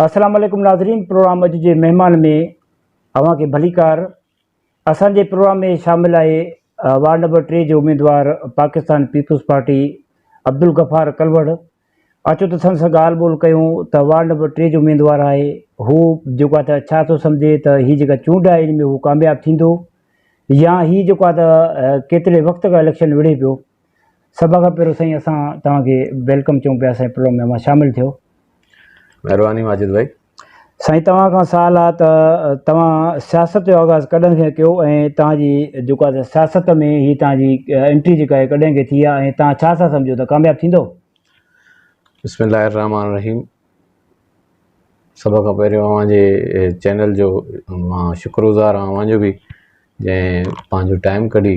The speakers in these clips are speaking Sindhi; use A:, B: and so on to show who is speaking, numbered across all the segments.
A: اسلام عليڪم ناظرين پروگرام اڄ جي مهمان ۾ اوهان کي ڀليڪار اسان جي پروگرام ۾ شامل آهي وارڊ نمبر ٽي جو اميدوار پاڪستان پيپلز پارٽي عبدالغفار ڪلوڙ اچو ته سن سان ڳالھ ٻولھ ڪيون ته وارڊ نمبر ٽي جو اميدوار آهي هو جيڪو آهي ته ڇا ٿو سمجهي ته هي جيڪا چونڊ آهي ان ۾ هو ڪامياب ٿيندو يا هي جيڪو آهي ته ڪيتري وقت کان اليڪشن وڙهي پيو سڀ کان پهريون سائين اسان توهان کي ويلڪم چئون پيا سائين پروگرام ۾ اوهان شامل ٿيو. مهرباني
B: ماجد ڀائي. سائين توهان
A: کان سوال آ ته توهان سياست جو آغاز ڪڏهن کان ڪيو ۽ توهان جي جيڪو آ سياست ۾ هي توهان جي انٽري جيڪا آهي ڪڏهن کي ٿي آ ۽ توهان ڇا ٿا سمجهو ته ڪامياب ٿيندو؟ بسم الله الرحمٰن
B: الرحيم سڀ کان پهريون اوهان جي چينل جو مان شڪر گذار آهيان اوهان جو به جنهن پنهنجو ٽائيم ڪڍي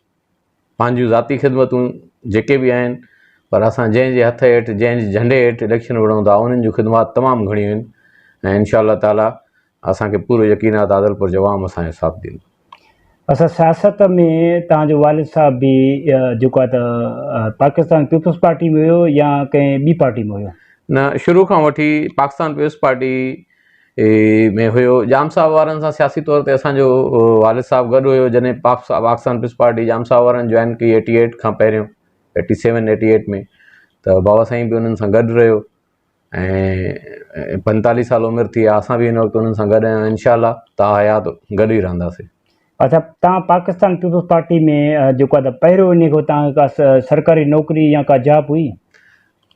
B: پنهنجون ذاتي خدمتون جيڪي به آهن پر اسان جنهن جي هٿ هيٺ جنهن جي جهنڊي هيٺ اليڪشن وڙهون ٿا انهن جون خدمات تمام گهڻيون آهن ۽ انشاء الله تعالي اسان کي پورو يقين آهي ته عادلپور جو عوام اسان جو ساٿ ڏيندو. اسان
A: سياست ۾ توهان جو والد صاحب به جيڪو آهي ته پاڪستان پيپلز پارٽي ۾ هيو يا ڪنهن ٻي پارٽي ۾ هيو؟ نه شروع کان
B: وٺي پاڪستان پيپلز پارٽي اي ۾ هيو. ڄام صاحب وارن سان سياسي طور تي اسان جو والد صاحب گڏ هيو جڏهن پ پ پاڪستان پيپلز پارٽي ڄام صاحب وارن جوائن ڪئي ايٽي ايٽ کان پهريون ايٽي سيون ايٽي ايٽ ۾ ته بابا سائين به انهن سان گڏ رهيو ۽ پنتاليهه سال عمر ٿي آ اسان به هن وقت انهن سان گڏ آهيون انشاء الله تا حيات گڏ ئي رهنداسين. اڇا تان
A: پاڪستان پيپلز پارٽي ۾ جيڪو آ ته پهريون انهي کان تان ڪا سرڪاري نوڪري يا ڪا جاب هئي؟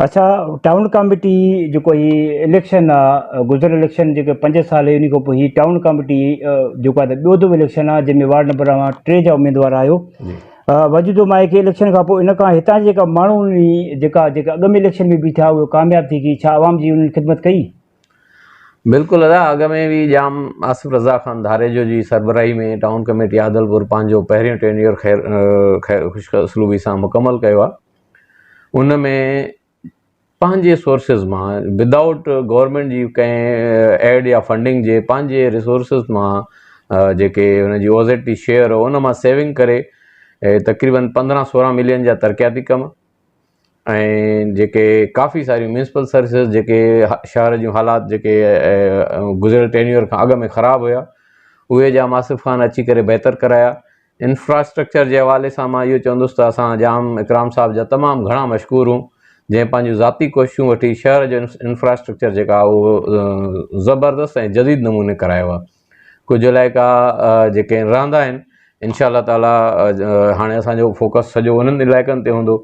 A: اڇا ٽائون ڪاميٽي جيڪو هي اليڪشن آ گذريل اليڪشن جيڪي پنج سال هي انهي کان پوء هي ٽائون ڪاميٽي جيڪو آ ٻيو دفعو اليڪشن آ جنهن ۾ وارڊ نمبر اوهان ٽي جا اميدوار آهيو وجدو مان هيڪي اليڪشن کان پوء ان کان هتان جي جيڪا ماڻهو جيڪا جيڪا اڳ ۾ اليڪشن ۾ بيٺا هئا ڪامياب ٿي گئي ڇا عوام جي انهن خدمت ڪئي
B: بلڪل ادا اڳ ۾ به جام آصف رضا خان ڌاريجو جي سربراهي ۾ ٽائون ڪاميٽي عادلپور پنهنجو پهريون ٽينيور خير خوش اسلوبي سان مڪمل ڪيو آ ان ۾ پنهنجي سورسز مان ود آئوٽ گورمينٽ جي ڪنهن ايڊ يا فنڊنگ جي پنهنجي ريسورسز مان جيڪي ان جي او زيڊ ٽي شيئر هو ان مان سيونگ ڪري تقريبن پندرهن سورهن ملين جا ترقياتي ڪم ۽ جيڪي ڪافي ساريون ميونسپل سروسز جيڪي شهر جون حالات جيڪي گذريل ٽينيور کان اڳ ۾ خراب هيا اهي جا آصف خان اچي ڪري بهتر ڪرايا انفراسٽرڪچر جي حوالي سان مان اهو چوندس ته اسان جام اڪرام صاحب جا تمام گهڻا مشڪور هون جنهن پنهنجون ذاتي ڪوششون وٺي شهر جو انفراسٽرڪچر جيڪا اهو زبردست ۽ جديد نموني ڪرايو آهي ڪجهه علائقا جيڪي رهندا آهن انشاء الله تعاليٰ هاڻي اسانجو فوڪس سڄو انهن علائقن تي هوندو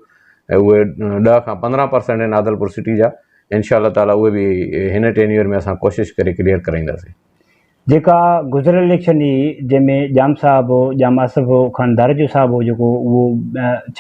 B: اهي ڏهه کان پندرهن پرسنٽ آهن عادلپور سٽي جا انشاء الله تعاليٰ اهي به هن ٽينيور ۾ اسان ڪوشش ڪري ڪليئر ڪرائينداسين جيڪا
A: گذريل اليڪشن هئي جنهن ۾ ڄام صاحب هو ڄام آصف هو خان ڌاريجو صاحب هو جيڪو اهو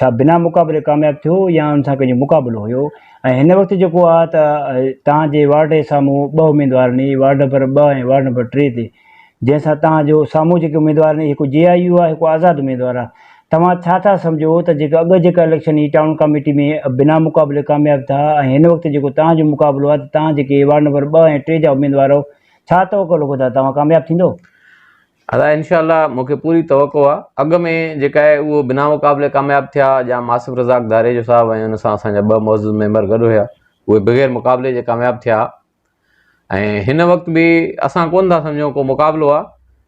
A: ڇا بنا مقابلي ڪامياب ٿيو يا ان سان ڪنهنجو مقابلو هيو ۽ هن وقت جيڪو آ ته تهان جي وارڊ جي سامهون ٻه اميدوار ني وارڊ نمبر ٻه ۽ وارڊ نمبر ٽي تي جنهن سان تهان جو سامهون جيڪي اميدوار ني هڪ جي آء يو آ هڪ آزاد اميدوار آ توهان ڇا ٿا سمجهو ته جيڪا اڳ جيڪا اليڪشن هئي ٽائون ڪاميٽي ۾ بنا مقابلي ڪامياب ٿا ۽ هن وقت جيڪو تهان جو مقابلو آ ته تهان جيڪي وارڊ نمبر ٻه ۽ ٽي جا اميدوار ڇا توقع لڳو ٿا توهان ڪامياب ٿيندو؟ ادا
B: انشاء الله مون کي پوري توقع آ اڳ ۾ جيڪا آهي اهو بنا مقابلي ڪامياب ٿيا جا ماصف رزاق ڌاريجو صاحب ۽ ان سان اسان جا ٻه معزز ميمبر گڏ هيا اهي بغير مقابلي جي ڪامياب ٿيا ۽ هن وقت به اسان ڪون ٿا سمجهون ڪو مقابلو آ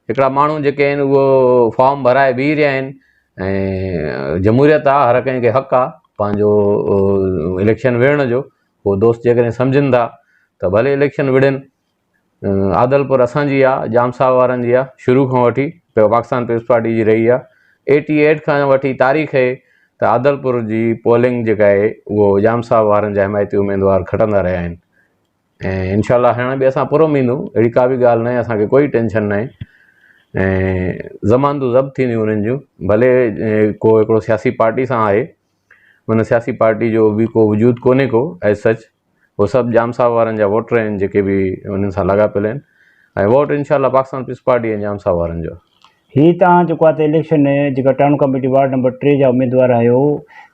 B: هڪڙا ماڻهو جيڪي آهن اهو فارم ڀرائي بيهي رهيا آهن ۽ جمهوريت آ هر ڪنهن کي حق آ پنهنجو اليڪشن وڙهڻ جو هو دوست جيڪڏهن سمجهن ٿا ته ڀلي اليڪشن وڙهين. عادلپور اسان جي آ، ڄام صاحب وارن جي آ، شروع کان وٺي پاڪستان پيپلز پارٽي جي رهي آ. ايٽي ايٽ کان وٺي تاريخ هي ته عادلپور جي پولنگ جيڪا آهي اهو ڄام صاحب وارن جا حمايتي اميدوار کٽندا رهيا آهن ۽ انشاء الله هاڻي به اسان پرامن ايندون اهڙي ڪا به ڳالهه ناهي اسان کي ڪوئي ٽينشن ناهي ۽ ضمانتون ضبط ٿينديون انهن جون ڀلي ڪو هڪڙو سياسي پارٽي سان آهي هن سياسي پارٽي جو به ڪو وجود ڪونهي ڪو As Such هو سڀ ڄام صاحب وارن جا ووٽر آهن جيڪي به انهن سان لاڳاپيل آهن ۽ ووٽ انشاء الله پاڪستان پيپلز پارٽي ۽ ڄام صاحب وارن جو. هي توهان جيڪو
A: آهي ته اليڪشن ۾ جيڪا ٽائون ڪاميٽي وارڊ نمبر ٽي جا اميدوار آهيو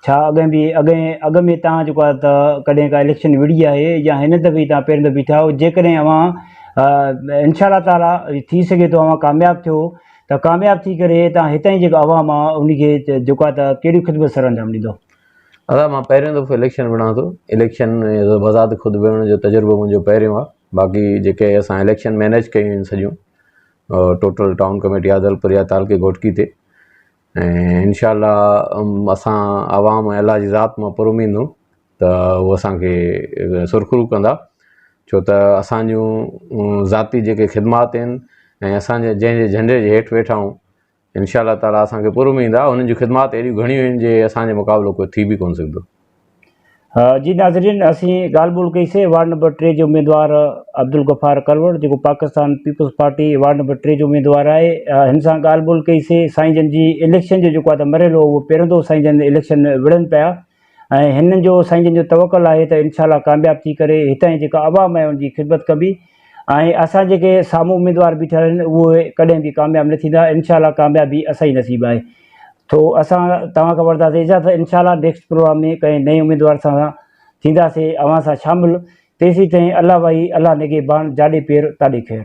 A: ڇا اڳين به اڳين اڳ ۾ توهان جيڪو آهي ته ڪڏهن ڪا اليڪشن وڙهي آهي يا هن دفعي توهان پهرين دفعي ٿيا آهيو جيڪڏهن اوهان انشاء الله تعالي ٿي سگهي ٿو اوهان ڪامياب ٿيو ته ڪامياب ٿي ڪري تان هتان جي جيڪا عوام آ انهي کي جيڪا ته ڪهڙي خدمت سرانجام ڏيندو. دادا مان
B: پهريون دفعو اليڪشن وڙهان ٿو اليڪشن بذات خود وڙهڻ جو تجربو منهنجو پهريون آ باقي جيڪي اسان اليڪشن مينيج ڪيون آهن سڄيون ٽوٽل ٽائون ڪميٽي عادلپور يا تعلقي گهوٽڪي تي ۽ انشاء الله اسان عوام ۽ الله جي ذات مان پر اميد هون ته هو اسان کي سرخرو ڪندا ڇو ته اسان جون ذاتي جيڪي خدمات آهن ۽ اسان جا جنهن جي جهنڊي جي هيٺ ويٺا آهيون انشاء الله تعالٰي اسان کي پراميد ٿيندا انهن جون خدمات اهڙيون گهڻيون آهن جي اسان جي مقابلو ڪو ٿي به ڪونه سگهندو.
A: جي ناظرين اسين ڳالهه ٻولهه ڪئي سي وارڊ نمبر ٽي جي اميدوار عبدالغفار ڪروڙ جيڪو Pakistan peoples party ward number ٽي جو اميدوار آهي هن سان ڳالهه ٻولهه ڪئي سي سائين جن جي اليڪشن جو جيڪو آهي ته مرحلو اهو پيرندو سائين جن اليڪشن وڙهن پيا ۽ هن جو سائين جن جو توڪل آهي ته انشاء الله ڪامياب ٿي ڪري هتان جي جيڪا عوام آهي ان جي خدمت ڪبي ۽ اسان جيڪي سامهون اميدوار بيٺل آهن اهي ڪڏهن به ڪامياب نه ٿيندا انشاء الله ڪاميابي اسان جي نصيب آهي ٿو اسان توهان کان وٺنداسين اجازت انشاء الله نيڪسٽ پروگرام ۾ ڪنهن نئين اميدوار سان ٿينداسين اوهان سان شامل تيسي تائين الله وائي الله نگهبان جاڏي پير تاڏي خير